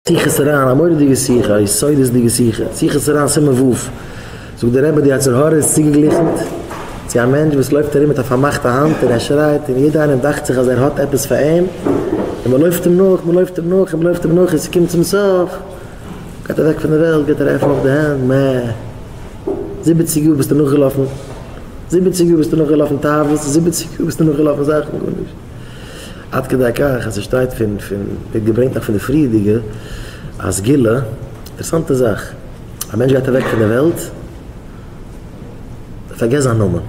שיחות הרן, א מורא'דיגע שיחה, א יסודות'דיגע שיחה, שיחות הרן סימן ו', זאגט דער רבי די יצר הרע איז צוגעגליכנט צו א מענטש וואס לויפט ארום מיט א פארמאכטע האנט און ער שרייט און יעדער איינעם דאכט זיך אז ער האט עפעס פאר אים און מען לויפט אים נאך, מען לויפט אים נאך און מען לויפט אים נאך און ס'קומט צום סוף גייט אוועק פון די וועלט, גייט ער עפענען אויף די הענט, מע! זיבעציג יאר ביסטו נאכגעלאפן, זיבעציג יאר ביסטו נאכגעלאפן תאוות, זיבעציג יאר ביסטו נאכגעלאפן זאכן, גארנישט. עד כדי כך אז עס שטייט פון פון ווערט געברענגט נאך פון די פריערדיגע א סגולה אינטערעסאנטע זאך א מענטש גייט אוועק פון די וועלט מען פארגעסט זיין נאמען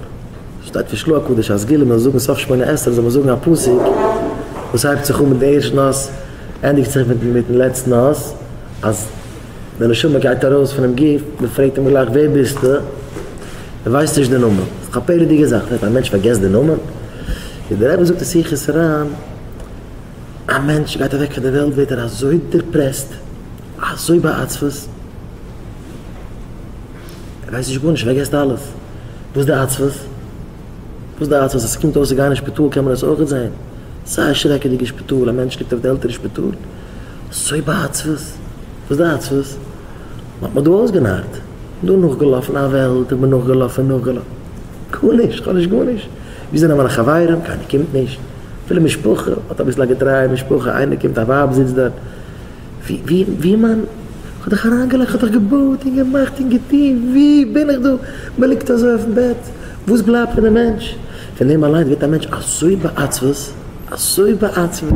שטייט פון שלו הקדוש א סגולה מען זאל זאגן סוף שמונה עשרה זאל מען זאגן א פסוק וואס הייבט זיך אן מיט די ערשטן אות ענדיגט זיך מיטן מיטן לעצטן אות אז די נשמה גייט ארויס פונעם גוף, מען פרעגט אים גלייך ווער ביסטו? ער ווייסט נישט די נאמען, א פלא'דיגע זאך וועט א מענטש פארגעסט די נאמען? ווי דער רבי זאגט אין שיחות רע, א מענטש גייט אוועק פון די וועלט ווערט ער אזוי דיפרעסט, אזוי בעצבות, ער ווייסט נישט גארנישט, ער פארגעסט אלעס, וואס די עצבות? וואס די עצבות? עס קומט אויס ס'איז גארנישט שפיטאל קען מען עס אויכעט זען, ס'איז א שרעקעדיגע שפיטאל, א מענטש ליגט אויף די עלטערע שפיטאל, סוי ביי עצבות? וואס די עצבות? מען האט מיך דא אויסגענארט, דא נאכגעלאפן א וועלט, איך בין נאכגעלאפן נאכגעלאפן, גארנישט, כ'האב נישט גארנישט, ווי זענען מיינע חברים, קיינער קומט נישט, אפילו משפחה האט אביסל א געטרייע משפחה, איינער קומט, א ווייב זיצט דארט, ווי ווי איז מיין, כ'האב דאך אריינגעלייגט, כ'האב דאך געבויט און געמאכט און געטון, ווי בין איך דא, מען ליגט אזוי אויפן בעט, וואס בלייבט פון די מענטש? פון דעם אליינס ווערט א מענטש אזוי בעצבות, אזוי בעצבות,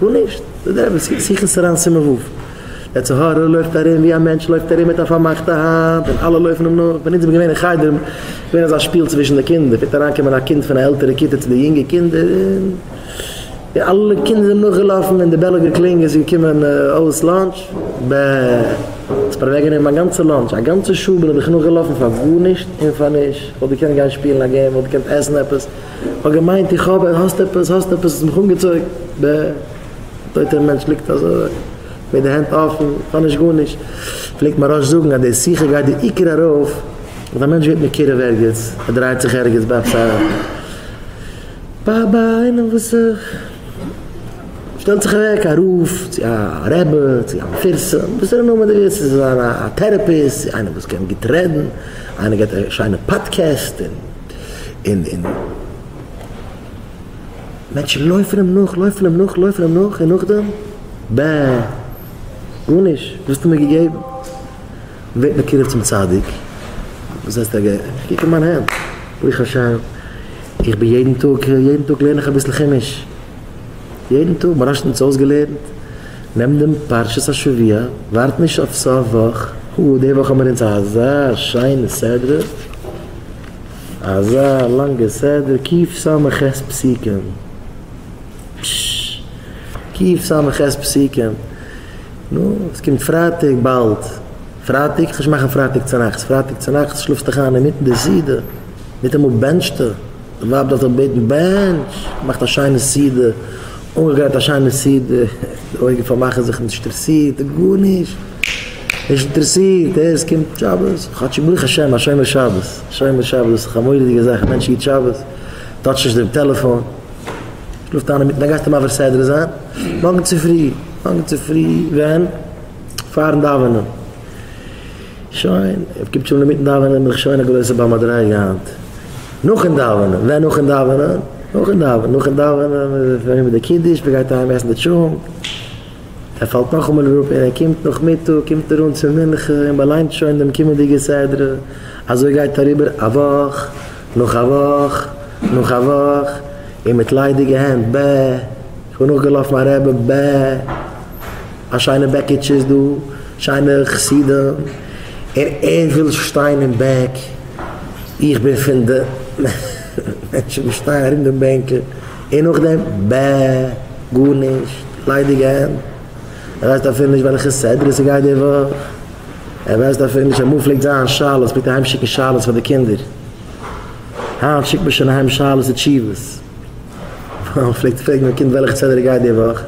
גארנישט, דאס איז דער אמת, שיחות הר ן סימן ו', דער צו הר ן לויפט ארום ווי א מענטש לויפט ארום מיט א פארמאכטע האנט און אלע לויפן אים נאך, ווען אונז זעמיר געווען אין חדר איז געווען אזא שפיל צווישן די קינדער, פלעגט אריינקומען א קינד פון א עלטערע כיתה צו די יונגע קינדער און. די אלע קינדער זענען נאכגעלאפן און די בעל האט געקלינגען איז געקומען אויס לאנטש, בע האסט מיר אוועקגענומען מיין גאנצע לאנטש, א גאנצע שעה בין איך דיך נאכגעלאפן פאר גארנישט און פאר נישט, וואלט געקענט גיין שפילן א געים, וואלט געקענט עסן עפעס, כ'האב געמיינט איך האב, האסט עפעס, האסט עפעס, האסט מיך אנגעצויגן, בע א טויטער מענטש ליגט אזוי מיט די הענט אפן, איך האב נישט גארנישט, פלעגט מיין ראש זאגן אז די שיחה גייט די עיקר ארויף אז א מענטש ווערט מקורב ערגעץ, ער דרייט זיך ערגעץ ביי עפעס א. ביי ביי איינעם וואס שטעלט זיך אוועק א רב צו א רבי צו א מפרסם וואס ער נאר מען דער ערשטער זאל זיין א טערעפיסט צו איינער וואס קען גוט רעדן איינער געבט א שיינע פאדקעסט און און מענטשן לויפן אים נאך לויפן אים נאך לויפן אים נאך און נאכדעם בע גארנישט וואס האסטו מיר געגעבן ווערט מקורב צום צדיק, זעצט א גט, קוק אין מיין הענט, ברוך השם, איך בין יעדן טאג, יעדן טאג לערן איך אביסל חומש, יעדן טאג, מוהרא ש האט אונז אויסגעלערנט, נעם דעם פרשת השבוע, ווארט נישט אויף סוף וואך, הא, די וואך האבן מיר אונז אזא שיינע סדרה, אזא לאנגע סדרה, ק ס ח פסוקים, פששש, ק ס ח פסוקים. נו, עס קומט פרייטאג באלד. פרייטאג? כ'וועל נישט מאכן פרייטאג צונאכטס. פרייטאג צונאכטס שלאפסט דיך איין אינמיטן די סעודה. ניטאמאל בענטשטע. די ווייב דארף דיך בעטן, בענטש! מאכט א שיינע סעודה. אנגעגרייט א שיינע סעודה. די אויגן פארמאכן זיך נישט אינטערסירט אין גארנישט. נישט אינטערסירט. אה, עס קומט שבת. כאטש ברוך השם א שומר שבת. שומר שבת דאס איז דאך א מורא'דיגע זאך. א מענטש היט שבת. טאטשט נישט דעם טעלעפאן. רופט איינער מיטן א גייסטו מעביר סדרה זיין מארגן צופרי? מארגן צופרי ווען? פארן דאווענען? שוין, קומט שוין אינמיטן דאווענען בין איך שוין א גרויסע ביי מדריגה היינט. נאכן דאווענען? ווען נאכן דאווענען? נאכן דאווענען? נאכן דאווענען איז פארריבער די קידוש, מען גייט אהיים עסן די טשולנט. ער פאלט נאכאמאל אראפ און ער קומט נאכמיטאג קומט ער אן צו מנחה און באליינט שוין דעם קומענדיגע סדרה, אזוי גייט אריבער א וואך נאך א וואך נאך א וואך און מיט ליידיגע הענט ב איך בין נאכגעלאפן א רעבע ב א שיינע בעקיטשע איז דא שיינע חסידים און ער וויל שטיין אין בעק איך בין פון די מענטשן וואס שטייען ארום דעם בענקל און נאכדעם? ב ה גארנישט, ליידיגע הענט. ער ווייסט אפילו נישט וועלכע סדרה ס'גייט די וואך, ער ווייסט אפילו נישט אמאל פלעגט זיין שאלות, מ'פלעגט אהיים שיקן שאלות פאר די קינדער, היינט שיקט מען שוין אהיים שאלות און תשובות, פאר מ'פלעגט פרעגן א קינד וועלכע סדרה גייט די וואך,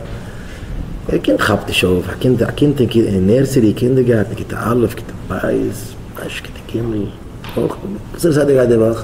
א קינד כאפט נישט אויף, א קינד א קינד אין נערסערי, קינדערגארטן, כיתה א', כיתה ב', וויינישט כיתה ג', אויך נישט, וואסערע סדרה גייט די וואך?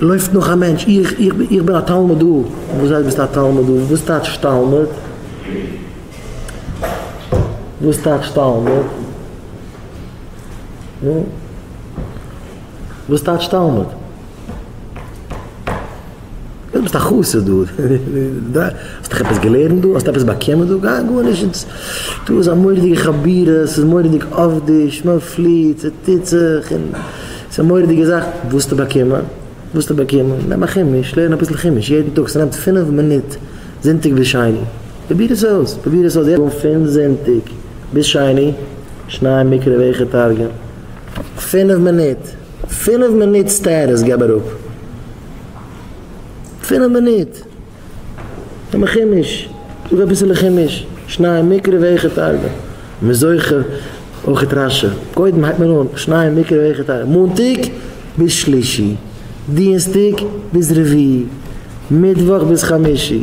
לויפט נאך א מענטש, איך, איך, איך בין א תלמוד דא. וואס הייסט ביסט א תלמוד דא? וואס טייטש תלמוד? וואס טייטש תלמוד? נו? וואס טייטש תלמוד? דו ביסט א חסיד דא. דא, האסט דאך עפעס געלערנט דא? האסט עפעס באקומען דא? גיי גארנישט. דא איז א מורא'דיגע חבורה, ס'איז מורא'דיג עובד'יש, מ'פליעט, ס'טוט זיך, און ס'איז א מורא'דיגע זאך וואסטו באקומען, וואסטו באקומען, נעם א כימוש, לערן אביסל כימוש יעדן טאג, ס'נעמט פינף מינוט זונטאג ביז שני, פרוביר עס אויס, פרוביר עס אויס יעצט, פון זונטאג ביז שני, שניי מקרא ואיכה תרגום, פינף מינוט, פינף מינוט סטעטוס געב אראפ, פינף מינוט. האבן כימוש, זאג אביסעלע כימוש, שניי מקרה ואיכה תרבה, מען זוכה אויכעט רש י, קודם הייבט מען אן, שניי מקרה ואיכה תרבה, מאנטאג ביז שלישי, דינסטאג ביז רביעי, מיטוואך ביז חמישי,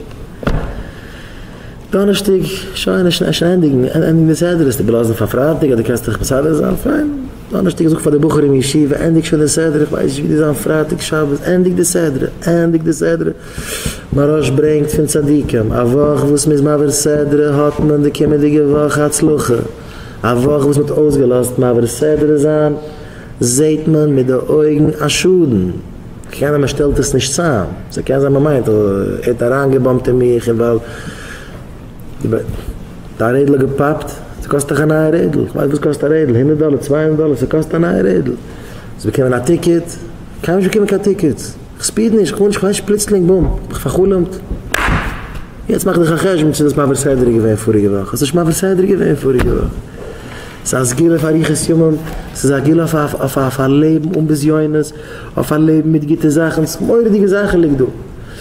דאנערשטאג שוין איז שוין שוין ענדיגן ענדיגן די סדר, עס איבערלאזן פאר פרייטאג אדער קענסט דיך מסדר זיין, פיין, דאנערשטאג זאג פאר די בחורים אין ישיבה ענדיג שוין די סדרה, איך ווייס נישט ווי די זיין פרייטאג שבת, ענדיג די סדרה, ענדיג די סדרה. מהרש ברענגט פון צדיקים, א וואך וואס מ'איז מעביר סדרה האט מען די קומענדיגע וואך הצלחה, א וואך וואס מ'האט אויסגעלאזט מעביר סדרה זיין זעהט מען מיט די אויגן א שאדן, קיינער מ'שטעלט עס נישט צאם, ס'קען זיין מ'מיינט ער האט אריינגעבאמט אין מיך און ווייל דיין רעדל האט געפאפט, ס'קאסט דאך א נייע רעדל, איך ווייס וואס קאסט א רעדל, הונדערט דאלער, צוויי הונדערט דאלער, ס'קאסט א נייע רעדל, האסט באקומען א טיקעט, קיינמאל נישט באקומען קיין טיקעטס. כ'ספיד נישט, כ'מאל נישט, כ'וועש פלוצלינג בום, האב איך פאר'חלומ'ט. יעצט מאך דיך א חשבון צו דאס מעביר סדר איז געווען פאריגע וואך, האסט נישט מעביר סדר געווען פאריגע וואך. ס'איז א סגולה אויף אריכות ימים, ס'איז א סגולה אויף אויף א לעבן אן בזיונות, אויף א לעבן מיט גוטע זאכן, ס'איז מורא'דיגע זאכן ליגט דא.